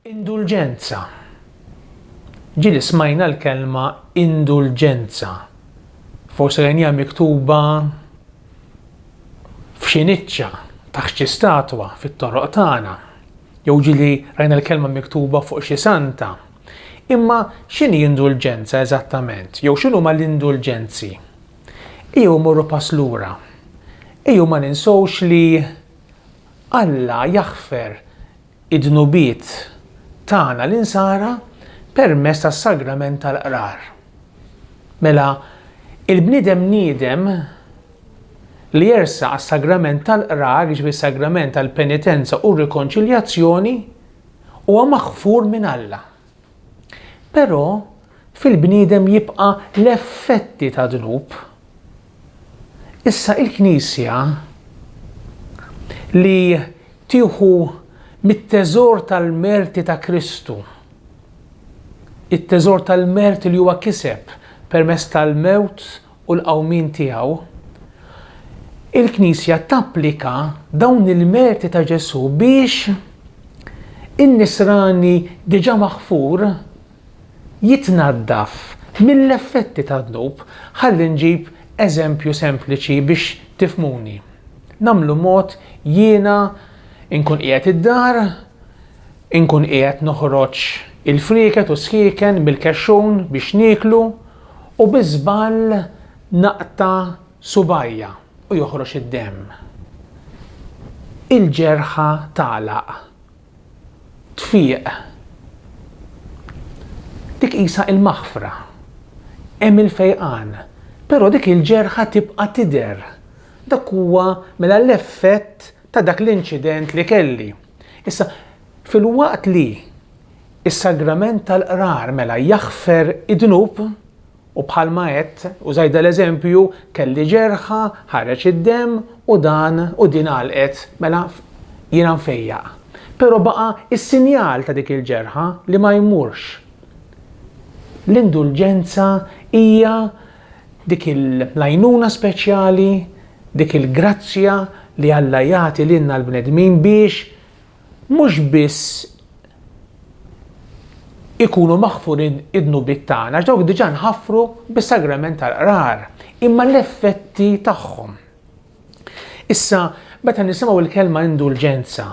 Indulġenza. Ġieli smajna l-kelma indulġenza. Forsi rajnija miktuba f'xi niċċa taħt xi statwa fit-toroq tagħna. Jew ġieli rajna l-kelma miktuba fuq xi santa Imma x'inhi indulġenza eżattament, jew x'inhuma l-indulġenzi? Ejjew immorru pass lura. Ejjew ma ninsewx li Alla jaħfer id-dnubiet tagħna l-insara permezz tas-sagrament tal-qrar. Mela, il-bniedem niedem li jersaq għas-sagrament tal-qrar, jiġifieri s-sagrament tal-penitenza u r-rikonċiljazzjoni, Huwa maħfur minn Alla. Però fil-bniedem jibqa' l-effetti ta' dnub. Issa il-Knisja li tieħu mit-teżor tal-merti ta' Kristu, it-teżor tal-merti li huwa kiseb permezz tal-mewt u l-qawmien tiegħu, il-Knisja tapplika dawn il-merti ta' Ġesù biex in-nisrani diġà maħfur jitnaddaf mill-effetti tad-dnub. Ħalli nġib eżempju sempliċi biex tifhmuni. Nagħmlu mod jiena nkun qiegħed id-dar, inkun qiegħed noħroġ il-frieket u s-sħieken mill-kexxun biex nieklu, U bi żball naqta' subgħajja u joħroġ id-demm. Il-ġerħa tagħlaq. Tfieq. Dik qisha il-maħfra. Hemm il-fejqan. Però dik il-ġerħa tibqa' tidher. Dak huwa mela l-effett ta' dak l-inċident li kelli. Issa, filwaqt li. Is-sagrament tal-qrar mela jaħfer id-dnub u bħalma għedt, użajt dal-eżempju, kelli ġerħa, ħareġ id-demm u dan u din għalqet, mela jiena nfejjaq. Però baqa' s-sinjal ta' dik il-ġerħa li ma jmurx. L-indulġenza hija dik l-għajnuna speċjali, dik il-grazzja li Alla jagħti lilna l-bnedmin biex mhux biss ikunu maħfurin id-dnubiet tagħna, għax dawk diġà nħaffru bis-sagrament tal-qrar, imma l-effetti tagħhom. Issa, meta nisimgħu l-kelma indulġenza,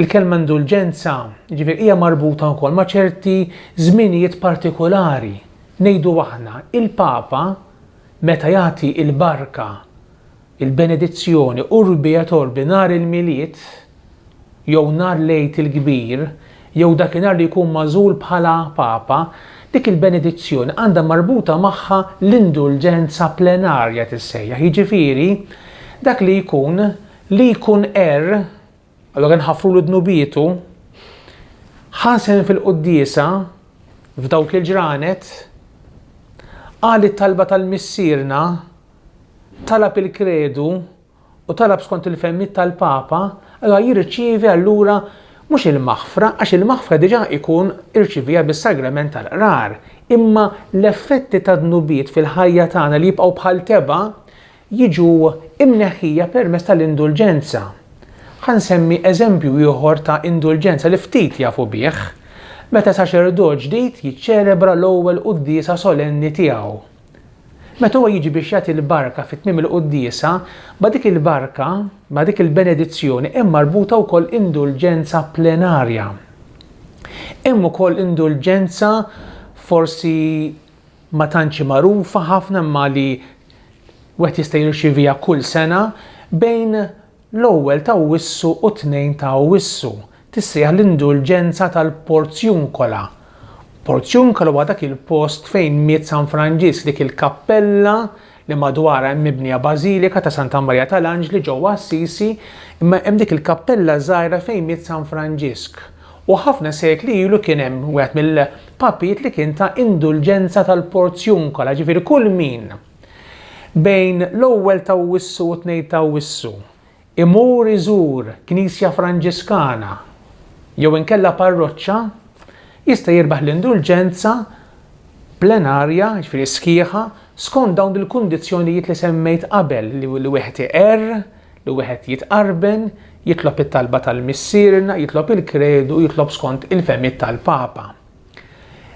il-kelma indulġenza ġifier hija marbuta wkoll ma' ċerti żminijiet partikolari. Ngħidu aħna, il-Papa meta jagħti l-barka Il-benedizzjoni Urbi et Orbi nhar il-Milied jew nhar l-Għid il-Kbir jew dakinhar li jkun magħżul bħala Papa, dik il-benedizzjoni għandha marbuta magħha l-indulġenza plenarja tissejjaħ, jiġifieri dak li jkun li jkun għerr, allura nħaffrulu dnubietu, ħasen fil-quddiesa f'dawk il-ġranet, qal it-talba tal-Missierna, talab il-Kredu u talab skont il-fehmiet tal-Papa, allura jirċievi allura mhux il-maħfra, għax il-maħfra diġà jkun irċievieha bis-Sagrament tal-Qrar, imma l-effetti tad-dnubiet fil-ħajja tagħna li jibqgħu bħal tebgħa jiġu mneħħija permezz tal-indulġenza. Ħa nsemmi eżempju ieħor ta' indulġenza li ftit jafu bih, meta saċerdot ġdid jiċċelebra l-ewwel quddiesa solenni tiegħu. Meta huwa jiġi biex jagħti l-barka fi tmiem il-quddiesa, ma' dik il-barka, ma' dik il-benedizzjoni hemm marbuta wkoll indulġenza plenarja. Hemm ukoll indulġenza forsi ma tantx hi magħrufa ħafna imma li wieħed jista' jirċieviha kull sena bejn l-ewwel ta' Awwissu u t-tnejn ta' Awwissu, tissejjaħ l-indulġenza tal-Porziuncola. Porziuncola huwa dak il-post fejn miet San Franġisk, dik il-kappella li madwarha hemm mibnija bażilika ta' Santa Marija tal-Anġli ġewwa Assisi, imma hemm dik il-kappella żgħira fejn miet San Franġisk. U ħafna sekli ilu kien hemm wieħed mill-papijiet li kien ta' indulġenza tal-Porziuncola, ġifieri kull min bejn l-ewwel t'Awwissu u t-tnejn t'Awwissu Imur iżur knisja Franġiskana jew inkella parroċċa jista' jirbaħ l-indulġenza plenarja, jiġifieri sħiħa, skont dawn il-kundizzjonijiet li semmejt qabel, li wieħed iqerr, li wieħed jitqarben, jitlob it-talba tal-Missierna, jitlob il-kredu u jitlob skont il-fehmiet tal-Papa.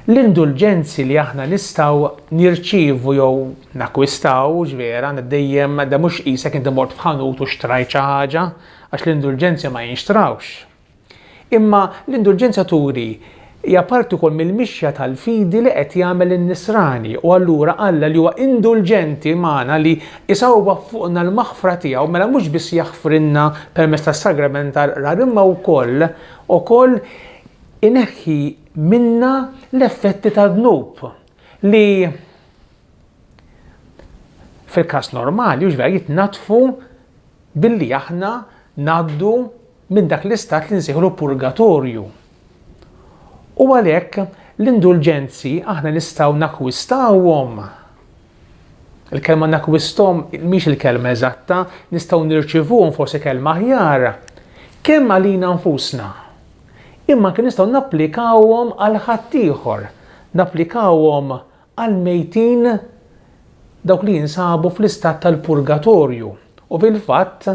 L-indulġenzi li aħna nistgħu nirċievu jew nakkwistaw, vera, dejjem da mhux qisek inti mort f'ħanut u xtrajt xi ħaġa, għax l-indulġenzi ma jinxtrawx. Imma l-indulġenza turi hija parti wkoll mill-mixja tal-fidi li qed jagħmel in-Nisrani u allura Alla li huwa indulġenti magħna li jsawwab fuqna l-maħfra tiegħu mela mhux biss jaħfrilna permezz tas-sagrament tal-Qrar imma wkoll ukoll ineħħi minna l-effetti tad-dnub li fil-każ normali hux vera jitnaddfu billi aħna ngħaddu minn dak l-istat li nsejħlu purgatorju. U għalhekk l-indulġenzi aħna nistgħu nakwistawhom. Il-kelma nakwistom mhix il-kelma eżatta, nistgħu nirċivuhom forsi kelma aħjar. Kemm għalina nfusna? Imma anke nistgħu napplikawhom għal ħaddieħor, napplikawhom għall-mejtin dawk li jinsabu fl-istat tal-purgatorju. U fil-fatt,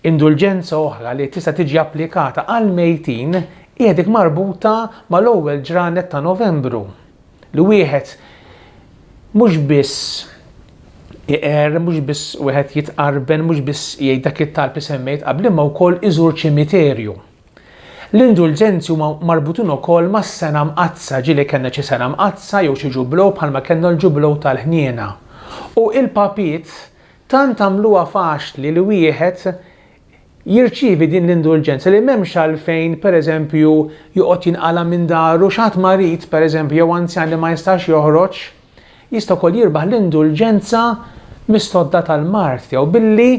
indulġenza oħra li tista' tiġi applikata għall-mejtin hija dik marbuta mal-ewwel ġranet ta' Novembru, li wieħed mhux biss iqer, mhux biss wieħed jitqarben, mhux biss jgħid dak it-talb li semmejt qabel, imma wkoll iżur ċimiterju. L-indulġenzi huma marbutin ukoll mas-Sena Mqaddsa, ġieli kellna xi Sena Mqaddsa jew xi Ġublew bħalma kellna l-Ġublew tal-Ħniena. U il-Papiet tant għamluha faċli li wieħed jirċievi din l-indulġenza li m'hemmx għalfejn, pereżempju, joqgħod jinqala' minn daru x'ħadd marid, pereżempju, jew anzjan li ma jistax joħroġ, Jista' wkoll jirbaħ l-indulġenza mis-sodda tal-mard tiegħu billi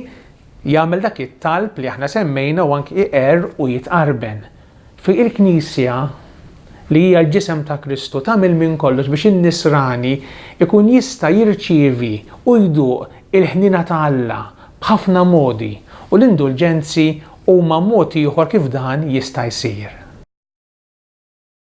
jagħmel dak it-talb li aħna semmejna u anki iqerr u jitqarben. Fi il-Knisja li hija l-ġisem ta' Kristu tagħmel minn kollox biex in-nisrani jkun jista' jirċievi u jduq il-ħniena ta' Alla b'ħafna modi u l-indulġenzi huma mod ieħor kif dan jista' jsir.